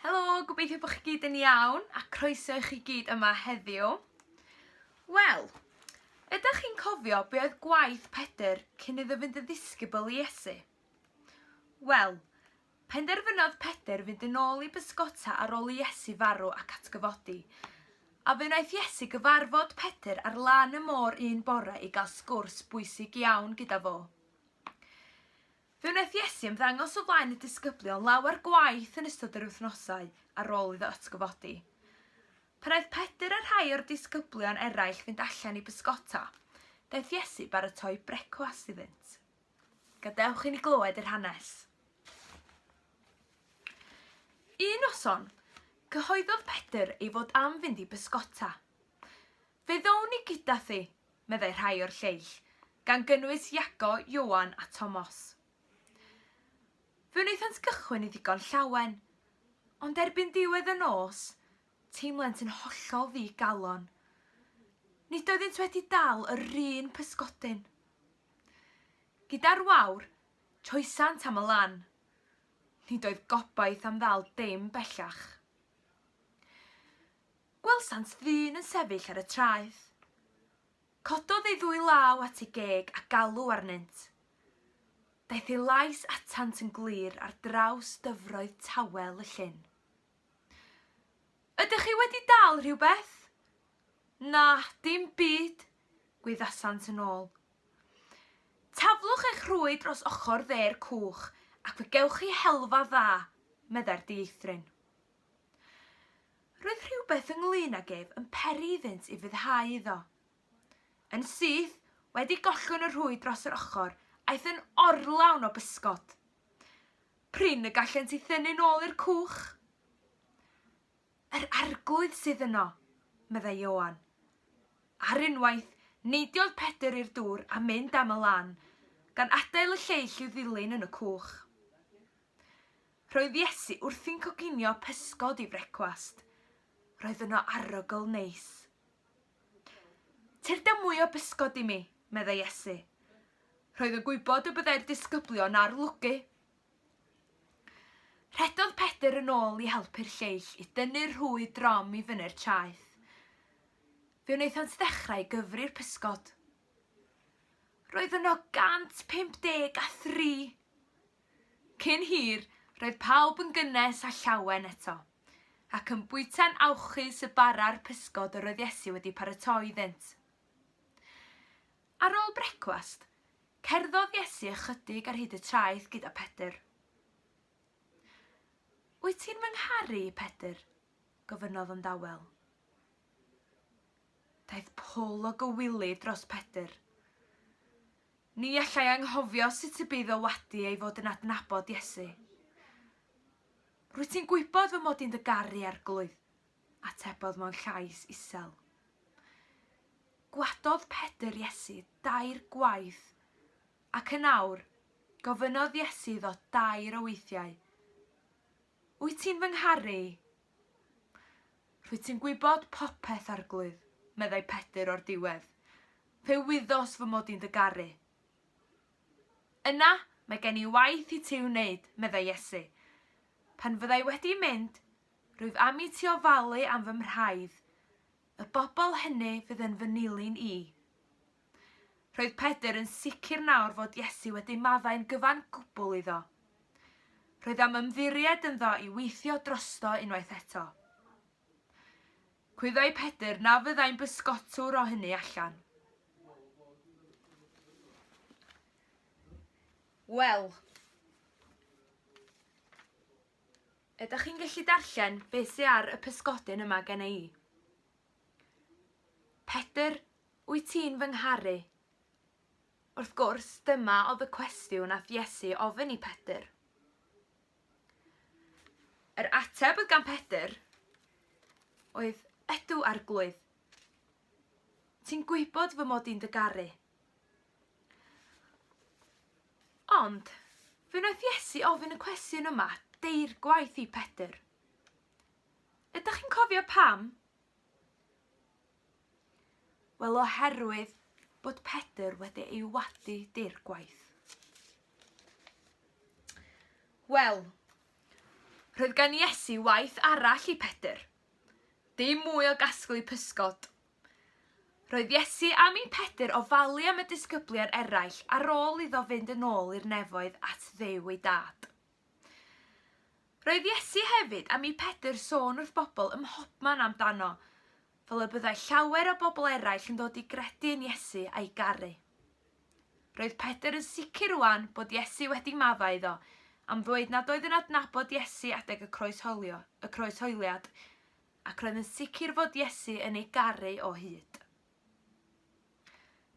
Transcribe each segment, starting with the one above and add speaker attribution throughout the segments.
Speaker 1: Helo, gobeithio bod chi gyd yn iawn a croeso i chi gyd yma heddiw. Wel, ydych chi'n cofio be oedd gwaith Pedr cyn iddo fynd yn ddisgybl i Iesu? Wel, penderfynodd Pedr fynd yn ôl i bysgota ar ôl i Iesu farw ac atgyfodi. A fe wnaeth Iesu gyfarfod Pedr ar lan y môr un bore i gael sgwrs bwysig iawn gyda fo. Fe wnaeth Iesu ymddangos o flaen y disgyblion lawer gwaith yn ystod yr wythnosau ar ôl iddo atgyfodi. Pan aeth Pedr a rhai o'r disgyblion eraill fynd allan i bysgota, daeth Iesu baratoi brecwast iddynt. Gadewch i ni glywed yr hanes. Un noson, cyhoeddodd Pedr ei fod am fynd i bysgota. Fe ddown ni gyda thi, meddai rhai o'r lleill, gan gynnwys Iago, Ioan a Tomos. Fe wnaethant gychwyn i ddigon llawen, ond erbyn diwedd y nos, teimlent yn hollol ddi-galon. Nid oeddynt wedi dal yr un pysgodyn. Gyda'r wawr, troesant am y lan. Nid oedd gobaith am ddal dim bellach. Gwelsant ddyn yn sefyll ar y traeth. Cododd ei ddwy law at ei geg a galw arnynt. Daeth ei lais atant yn glir ar draws dyfroedd tawel y llyn. Ydych chi wedi dal rhywbeth? Na, dim byd, gwyddasant yn ôl. Taflwch eich rhwy dros ochr dde'r cwch ac fe gewch chi helfa dda, meddai'r dieithryn. Roedd rhywbeth ynglŷn ag ef yn peri iddynt i fuddhau iddo. Yn syth, wedi gollwng y rhwyd dros yr ochr, aeth yn orlawn o bysgod. Prin y gallent i thynnu nôl i'r cwch. Yr arglwydd sydd yno, meddai Ioan. Ar unwaith, neidiodd Pedr i'r dŵr a mynd am y lan, gan adael y lleill i'w ddilyn yn y cwch. Roedd Iesu wrthi'n coginio pysgod i frecwast. Roedd yno arogl neis. Cer da mwy o bysgod i mi, meddai Iesu. Roedd yn gwybod y byddai'r disgyblion ar lwgu. Rhedodd Pedr yn ôl i helpu'r lleill i dynnu'r rhwy drom i fyny'r traeth. Fe wnaethant ddechrau gyfri'r pysgod. Roedd yno 153! Cyn hir, roedd pawb yn gynnes â llawen eto, ac yn bwyta'n awchus y bara'r pysgod yr oedd Iesu wedi paratoi iddynt. Ar ôl brecwast, cerddodd Iesu ychydig ar hyd y traeth gyda Pedr. Wyt ti'n fy ngharu i, Pedr? gofynnodd yn dawel. Daeth pwl o gywilydd dros Pedr. Ni allai anghofio sut y bydd o wadi ei fod yn adnabod Iesu. Rwyt ti'n gwybod fy mod i'n dy garu, Arglwydd, atebodd mewn llais isel. Gwadodd Pedr Iesu dair gwaith, ac yn awr, gofynnodd Iesu iddo dair o weithiau, Wyt ti'n fy ngharu i? Rwyt ti'n gwybod popeth, Arglwydd, meddai Pedr o'r diwedd. Fe wyddos fy mod i'n dy garu. Yna, mae gen i waith i ti wneud, meddai Iesu. Pan fyddai wedi mynd, rwyf am i ti ofalu am fy mhraidd, y bobl hynny fydd yn fy nilyn i. Roedd Pedr yn sicr nawr fod Iesu wedi maddau'n gyfan gwbl iddo. Roedd am ymddiried ynddo i weithio drosto unwaith eto. Cwyddoi Pedr na fyddai'n bysgotwr o hynny allan. Wel, ydych chi'n gallu darllen beth sydd ar y pysgodyn yma gen i? Pedr Wyt ti'n fy ngharu? Wrth gwrs, dyma oedd y cwestiwn nath Iesu ofyn i Pedr. Yr ateb oedd gan Pedr oedd, Ydw, Arglwydd. Ti'n gwybod fy mod i'n dy garu. Ond, fe wnaeth Iesu ofyn y cwestiwn yma deir gwaith i Pedr. Ydych chi'n cofio pam? Wel, oherwydd bod Pedr wedi ei wadu dir gwaith. Wel, roedd gan Iesu waith arall i Pedr. Dim mwy o gasglu pysgod. Roedd Iesu am i Pedr ofalu am y disgyblion eraill ar ôl iddo fynd yn ôl i'r nefoedd at ddew ei dad. Roedd Iesu hefyd am i Pedr sôn wrth bobl ym mhobman amdano, fel y byddai llawer o bobl eraill yn dod i gredu yn Iesu a'i garu. Roedd Pedr yn sicr rwan bod Iesu wedi maddau iddo am ddweud nad oedd yn adnabod Iesu adeg y croeshoelio, y croeshoeliad, ac roedd yn sicr fod Iesu yn ei garu o hyd.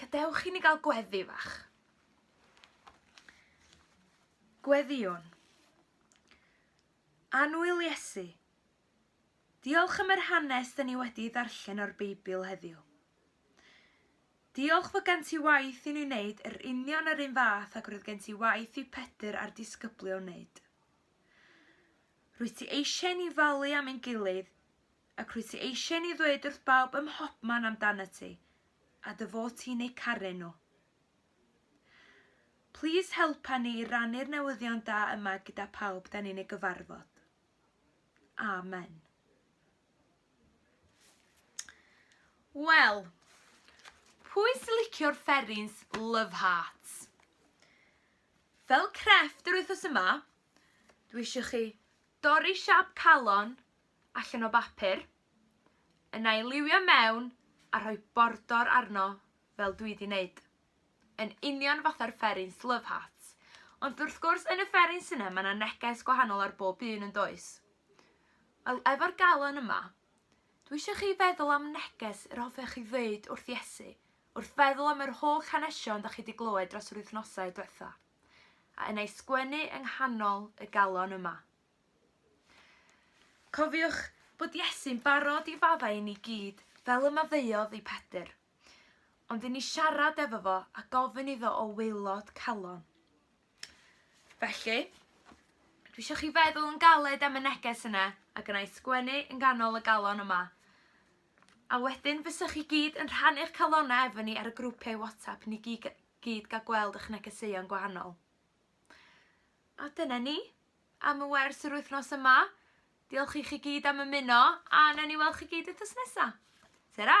Speaker 1: Gadewch i ni gael gweddi fach. Gweddion. Anwyl Iesu. Diolch am yr hanes dyn ni wedi ddarllen o'r Beibl heddiw. Diolch fod gen ti waith i ni wneud yr union yr un fath ac roedd gen ti waith i Pedr a'r disgyblion wneud. Rwyt ti eisiau ni falu am ein gilydd Ac rwyt ti eisiau i ni ddweud wrth bawb ym mhobman amdanat ti, a dy fod ti'n eu caru nhw. Plîs helpa ni i rannu'r newyddion da yma gyda phawb da ni'n ei gyfarfod. Amen. Wel, pwy sy'n licio'r fferins Love Hearts? Fel crefft yr wythnos yma, dwi eisiau chi dorri siap calon allan o bapur, yna ei liwio mewn a rhoi bordor arno fel dwi 'di neud. Yn union fatha'r fferins Love Hearts. Ond wrth gwrs yn y fferins yna mae 'na neges gwahanol ar bob un yn does? Wel efo'r galon yma, dwi eisiau chi feddwl am neges yr hoffech chi ddeud wrth Iesu, wrth feddwl am yr holl hanesion da chi wedi glywed dros yr wythnosau diwetha, a yna ei sgwennu yng nghanol y galon yma. Cofiwch bod Iesu'n barod i faddau i ni gyd fel y maddeuodd i Pedr, ond i ni siarad efo fo a gofyn iddo o waelod calon. Felly, dwi eisiau chi feddwl yn galed am y neges yna a gyna i sgwennu yn ganol y galon yma. A wedyn fysych chi gyd yn rhannu'ch calonau efo ni ar y grwpiau WhatsApp i ni gyd, gyd gael gweld eich negeseuon gwahanol. A dyna ni am y wers yr wythnos yma. Diolch i chi gyd am ymuno a nawn ni weld chi gyd wythnos nesa. Ta-ra!